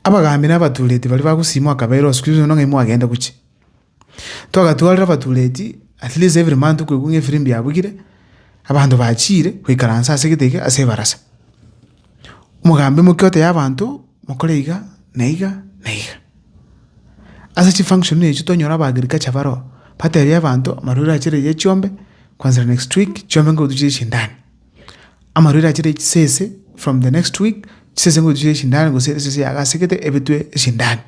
Abagaambi na abatuureti baria bagosiimwa akabeera osikuru ise nong'aini mwagende gochia. Twagatwarire abatuureti at least every month koigwa ng'a efirimbi yabugire, abanto bachiire goikaransa ase egete eke ase ebarasa. Omogambi omokia oteba abanto mokore iga na iga na iga. Ase chifunction echio twanyora aba agriculture baroo, batebia abanto amarwaire achire eria chiombe kwanzera next week chiombe ngotuche chindani. Amarwaire achire echisese from the next week, chisese ngochia chire echindani gose esese yagasegete ebetwe echindani.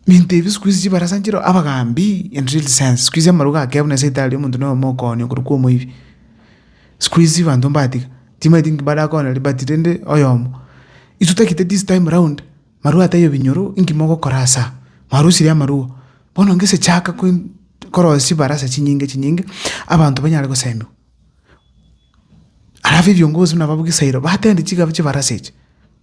Minto ebi sikuhizi chibarasa nchire abagambi in real sense, sikuhizi amarwa gakea buna esibitari omonto noyomo okoonio korwa kwa omoibi. Sikuizi banto mbatiga, timaeti inki barakore liberty rende oyomo. Intwe tagete this time round marwa ataiyo binyoro inki mogokora ase aa? Mwarosirie amarwa. Bono gese chaka korosia chibarasa chinyinge chinyinge abanto banyare goseemiwa. Alafu ebiongozi buna abwo bwa gesairo batende chiga chibarasa echi.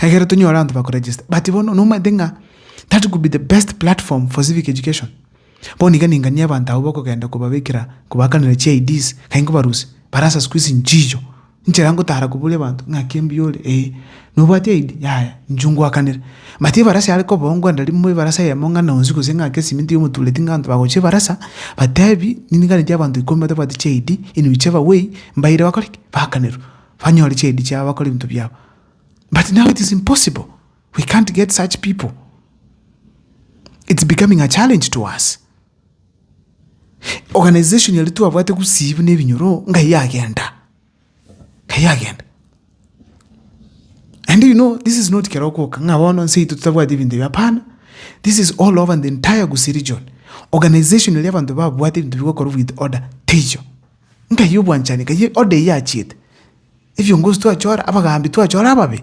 Ekero tonyora abanto bakoregesta but bono nomanyete ng'a that could be the best platform for civic education. Bono iga ninganie abanto abwo bakogenda kobabekera kobakanera chi IDs nai nkobarusia, barasa sikuizi nchicho, nchera ngotara koboria abanto ng'aki mbuyore? Ee. Nobwate aid? Yaya, inchuo ngoakanere. But ebarasa yare kobao ngwenda rimo ebarasa eyemo ng'ana onsi gose ng'ake esimiti yomotureti ng'a abanto bagocha ebarasa, batebi, ninganetie abanto ikomi batabwati chi aid, inwe iche abawei, mbaire bakore ki? Bakanerwe. Banyore chi aid chiabo bakore ebinto biabo. But now it is impossible. We can't get such people. It's becoming a challenge to us. Organization yaria twabwate gusii buna ebinyoro, ngai agenda. Aye agenda. And do you know this is not kero okoka ng'a bono nse yaito totabwati ebinto ebi hapana. This is all over the entire Gusii region. Organization eria abanto babwate ebinto bigokorwa with order teiyo. Nkai obwanchani nkai order eyio achiete. Ebiongozi twachora abagaambi twachora ababe.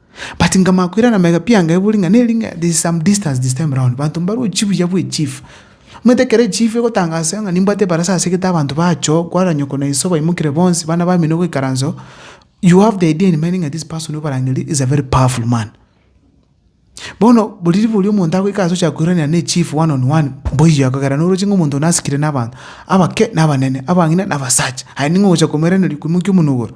but nkamanya koirana mega pi anga ebori ng'a neri ng'a there is some distance this time round banto mbarwe chibuya bwa echief, omanyete ekero echief egotangasa ng'a nimbwate ebarasa ase egete abanto bachoo kwarora nyoko na iso baimokire bonsi bana bamino goikaransa oo, you have the idea in mind ng'a this person obarangeria is a very powerful man. Bono buri ribori omonto agoika ase ochaka koiranera na echief one on one mboiyo ekogera noroche ng'a omonto one asikire na abanto abake na abanene, abang'ina na abasacha, aye ning'o ogocha komoiraneria koimokia omonwa igoro.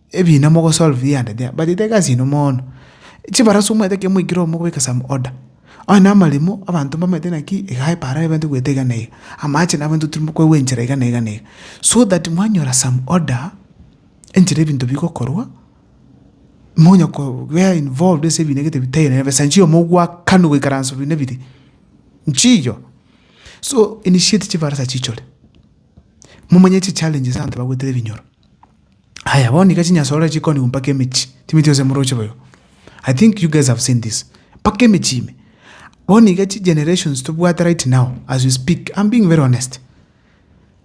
ebina mogosolve iga and there bachete egasi ino mono. Chibarasu omanyete ekero mwaikire omo gobeka some order, onye na amaremo abanto mbamanyete naki iga epaara aye ebente goeta iga na iga, amache nabo intwe tiri mokoegwa enchera iga na iga na iga. So that mwanyora some order enchera ebinto bigokorwa, monya kobea involved ase ebina egete bitari nere besa inchiyo mogwakanwa goikaransa buna biri, inchiyo. So initiate chibarasa chichore, momanye chichallenges abanto bagoetera ebinyoro. Aya bono iga chinyasore chikonigwa mpaka emechie, timanyeti gose moroche boigo. I think you guys have seen this. Mpaka emechie ime. Bono iga chigenerations tobwate right now as we speak, I'm being very honest.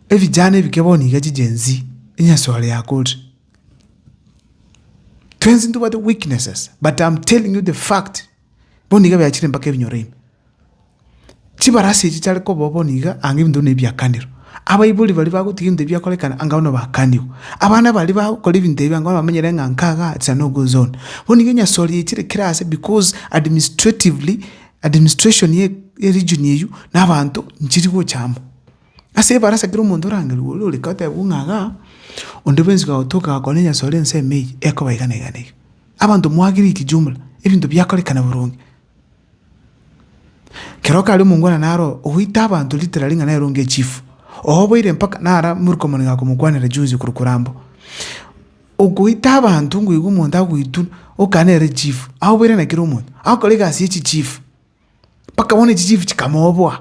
Ebijana ebike bono iga chi Gen Z, enyasore yakorire. Twensi ntobwate weaknesses, but I'm telling you the fact. Bono nigo ebiachire mpaka ebinyoro ime. Chibarasi echi chiare kobao bono iga anga ebinto buna ebi biakanirwe. Abaibori baria bagotiga ebinto ebi biakorekana anga bono bakanigwe. Abana baria bagokora ebinto ebi anga bono bamenyere ng'a nka iga it is a no go zone. Bono nigo enyasori yechire kera aase because administratively, administration ye eregion eywo na abanto nchiri gocha amo. Ase ebarasa kera omonto orangerigwe oria ore kotebwa ng'a igaa, onde bwensi gagotokire gakore enyasori ensemo eywo, ekoba iga na iga na iga. Abanto mwagire ikijumla ebinto biakorekana boronge. Kera okare omongwana naro ogoita abanto ritera ring'ana eronge echifu, oboire mpaka nara morweke omonene akomokwanera junzi korwa korambo. Ogoita abanto ngoigwa omonto agoitwa oka nere chifu, aoboire na kera omonto, agokora egasi ye chichifu, mpaka bono echichifu chikamoboa.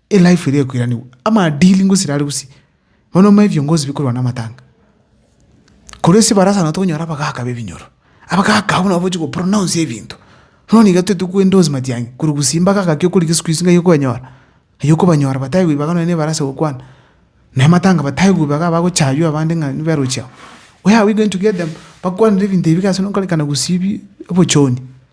Elife eria ekoiranigwa, amaadili ngosira are gusii, bono omanye ebiongozi bikorwa namatanga. Korwa ase ebarasa nabo tokonyora abagaka b'ebinyoro, abagaka abwo nabo bochi gopronounce ebinto, bono nigo toigete ko endorse matiang'i, korwa gusii mbagaka ki okorigwe siku hizi ng'ai okonyora, ng'ai okobanyora bataiwe ibaga nonye na ebarasa egokwana, na amatanga bataiwe ibaga abagochaywa abande ng'a nibo barochi abwo. Oyabwo iga enchokio edemo, bakwanire ebinto ebibe iga ase nokorikana gusii bi obochoni.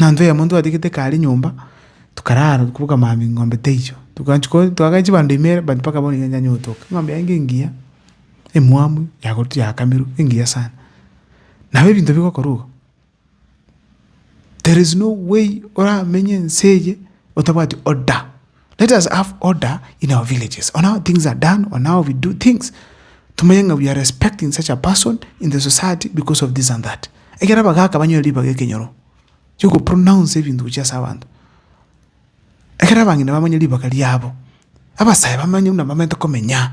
Mwanto oyomwe ntwatigete kare nyomba, tokarara tokabuga mambia eng'ombe teicho, togachia ko twagacha chibando ime ere but mpaka bono nigo yanyara gotoka. Eng'ombe yaye ngengiya, emwamu, yagotu yakamirwe, engiya sana. Nabo ebinto bigokora igo, there is no way oramenye ense eye otabwati order. Let us have order in our villages on how things are done, on how we do things. Tumenye ng'a we are respecting such a person in the society because of this and that. Ekero abagaka banyore ribaga ekenyoro, chiko pronounce ebinto gochia ase abanto. Ekero abang'ina bamanye ribaga riabo, abasae bamanye buna bamaete komenya.